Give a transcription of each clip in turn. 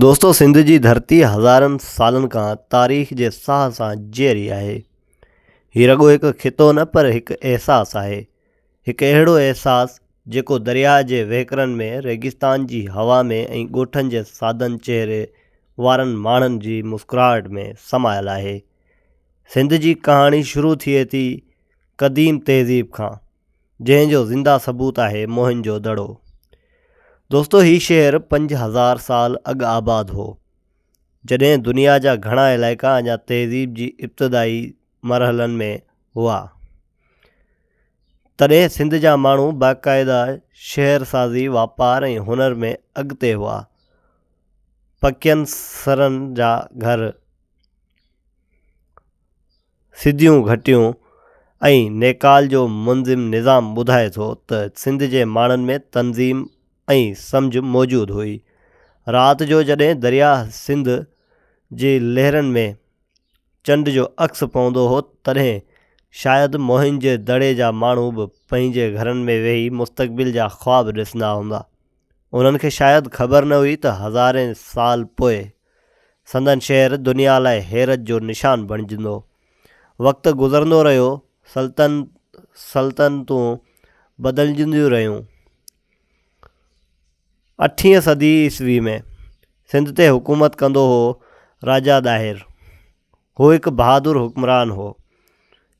دوستو سنڌ جي ڌرتي هزارن سالن کان تاريخ جي ساهه سان جيئري آهي هي رڳو هڪ خطو نه پر هڪ احساس آهي هڪ اهڙو احساس جيڪو درياء جي وهڪرن ۾ ريگستان جي هوا ۾ ۽ ڳوٺن جي سادن چهري وارن ماڻهن جي مسڪراهٽ ۾ سمايل آهي سنڌ جي ڪهاڻي شروع ٿئي ٿي قديم تهذيب کان جنهن جو زنده ثبوت آهي موهن جو دڙو. دوستو هي شهر پنج هزار سال اڳ آباد هو جڏهن دنيا جا گهڻا علائقا اڃا تهذيب جي ابتدائي مرحلن ۾ هئا تڏهن سنڌ جا ماڻهو باقاعده شهر سازي واپار ۽ هنر ۾ اڳتي هئا پڪين سرن جا گهر سڌيون گهٽيون ۽ نيڪال جو منظم نظام ٻڌائي ٿو ته سنڌ جي ماڻهن ۾ تنظيم ۽ سمجهه موجود هئي. رات جو جڏهن درياهه سنڌ جي لهرن ۾ چنڊ جو عڪس پوندو هو تڏهن شايد موهن جي دڙي جا ماڻهو به پنهنجي گهرن ۾ ويهي مستقبل جا خواب ڏسندا هوندا. انهن کي شايد خبر نه هئي ته هزارين سال پوء سندن شهر دنيا لاء حيرت جو نشان بڻجندو. وقت گذرندو رهيو، سلطنت سلطنتون بدلجنديون رهيون. اٺين صدي عيسوي ۾ سنڌ تي حڪومت ڪندو هو راجا ڏاهر. هو هڪ بهادر حڪمران هو،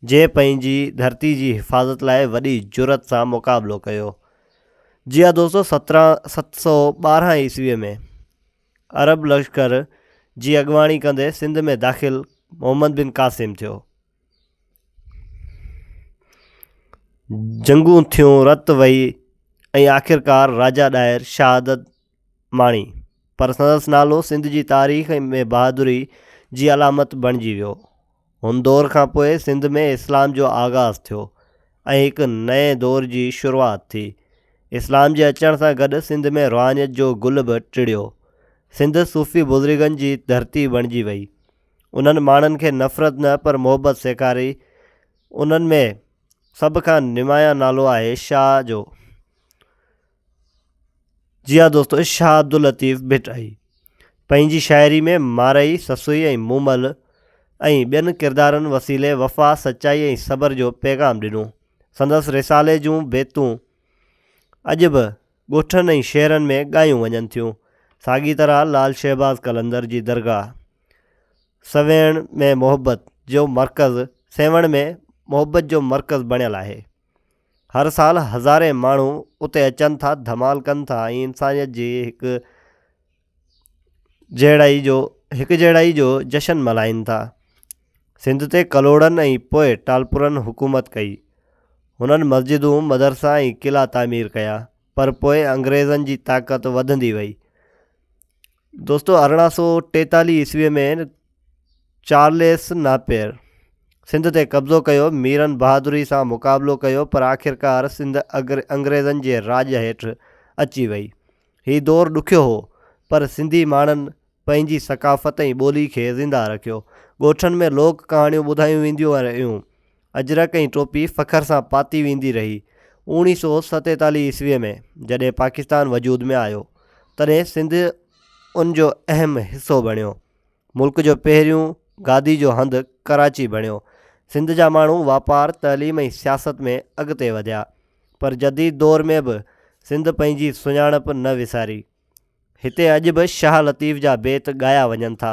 جنهن پنهنجي ڌرتي جي حفاظت لاء وڏي جرئت سان مقابلو ڪيو. جيئا دوستو سترهن ست سؤ ٻارهن عيسوي ۾ عرب لشڪر جي اڳواڻي ڪندي سنڌ ۾ داخل محمد بن قاسم ٿيو. جنگون ٿيون، رت وهي ۽ آخرڪار راجا ڏاهر شهادت ماڻي، پر سندس نالو سنڌ جي تاريخ ۾ بهادري جي علامت بڻجي ويو. هن دور کان پوء سنڌ ۾ اسلام جو آغاز ٿيو ۽ هڪ نئين دور جي شروعات ٿي. اسلام جي اچڻ سان گڏ سنڌ ۾ روحانيت جو گل به ٽڙيو. سنڌ صوفي بزرگن جي ڌرتي بڻجي وئي. انهن ماڻهن کي نفرت نه پر محبت سيکاري. انهن ۾ سڀ کان نمايان نالو آهي شاهه جو. جي ها دوستو شاهه عبداللطيف ڀٽائي پنهنجي شاعري ۾ مارئي، سسئي ۽ مومل ۽ ٻين ڪردارن وسيلي وفا، سچائي ۽ صبر جو پيغام ڏنو. سندس رسالي جون بيتون اڄ به ڳوٺن ۽ شهرن ۾ ڳايون وڃن ٿيون. ساڳي طرح لعل شهباز قلندر جي درگاهه سويڻ ۾ محبت جو مرڪز سيوهڻ ۾ محبت جو مرڪز بڻيل آهي. هر سال هزارين ماڻهو اتي اچن ٿا ڌمال ڪن ٿا ۽ انسانيت جي هڪ جهڙائي جو هڪ جهڙائي جو جشن ملهائين ٿا سنڌ تي ڪلهوڙن ۽ پوء ٽالپرن حڪومت ڪئي هنن مسجدون مدرسا ۽ قلعا تعمير ڪيا پر پوء انگريزن جي طاقت وڌندي وئي دوستو ارڙهن سو ٽيتاليهه عيسوي ۾ چارليس ناپير سنڌ تي قبضو ڪيو ميرن بهادري سان مقابلو ڪيو پر آخرڪار سنڌ انگريزن جي راڄ هيٺ اچي وئي هي دور ڏکيو هو پر سنڌي ماڻهن پنهنجي ثقافت ۽ ٻولي کي زنده رکيو ڳوٺن ۾ لوڪ ڪهاڻيون ٻڌايون وينديون رهيون اجرڪ ۽ ٽوپي فخر سان پاتي ويندي رهي. اوڻي سو ستيتاليهه عيسوي ۾ جڏهن پاڪستان وجود ۾ آيو تڏهن سنڌ ان جو اهم حصو بڻيو. ملڪ جو پهريون گادي جو هنڌ ڪراچي بڻيو. سنڌ جا ماڻهو واپار، تعليم ۽ سياست ۾ اڳتي وڌيا. پر جديد دور ۾ به سنڌ پنهنجي سڃاڻپ نه وساري. هتي اڄ به شاهه لطيف جا بيت ڳايا وڃن ٿا،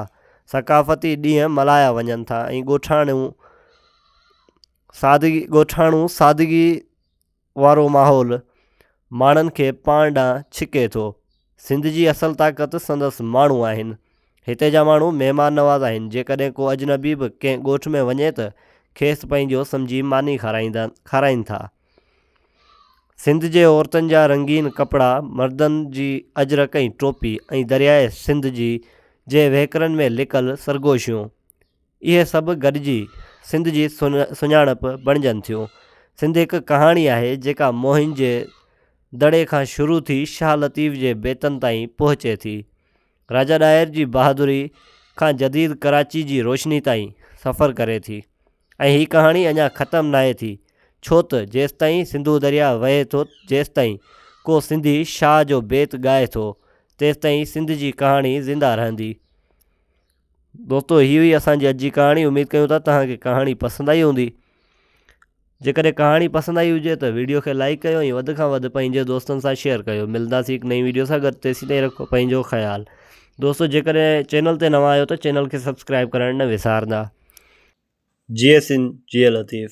ثقافتي ڏينهن ملهايا وڃن ٿا ۽ ڳوٺاڻو سادگي ڳوٺاڻو سادگي وارو ماحول ماڻهن کي پاڻ ڏانهن ڇڪي ٿو. سنڌ جي اصل طاقت سندس ماڻهو آهن. هتي جا ماڻهو مهمان نواز آهن، جيڪڏهن ڪو اجنبي به ڪنهن ڳوٺ ۾ وڃي ته کيس پنهنجو سمجهي ماني کارائين ٿا. سنڌ جي عورتن جا رنگين ڪپڙا، مردن جي اجرڪ ۽ ٽوپي ۽ درياهه سنڌ جي جي وهڪرن ۾ لڪل سرگوشيون اهي سڀ گڏجي سنڌ جي سڃاڻپ بڻجن ٿيون. سنڌ هڪ ڪهاڻي آهي جيڪا موهن جي دڙي کان شروع ٿي شاهه لطيف جي بيتن تائين پهچي ٿي. راجا ڏاهر جي بهادري کان جديد ڪراچي جي روشني تائين سفر ڪري ٿي. ۽ هي ڪهاڻي اڃا ختم ناهي ٿي، ڇو ته جيستائين سنڌو درياهه وهي ٿو، جيستائين ڪو سنڌي شاهه جو بيت ڳائي ٿو، تيستائين سنڌ جي ڪهاڻي زنده رهندي. دوستو هي هئي اسان جي اڄ جي ڪهاڻي، اميد ڪيون ٿا توهان کي ڪهاڻي پسند آئي هوندي. جيڪڏهن ڪهاڻي پسند آئي هجي ته وڊيو کي لائيڪ ڪيو ۽ وڌ کان وڌ پنهنجي دوستن سان شيئر ڪيو. ملنداسين هڪ نئين وڊيو سان گڏ، تيسين تائين رکو پنهنجو خيال. دوستو جيڪڏهن چينل تي نوان آهيو ته چينل کي سبسڪرائب ڪرڻ نه وسارندا جي سنڌ جي لطيف.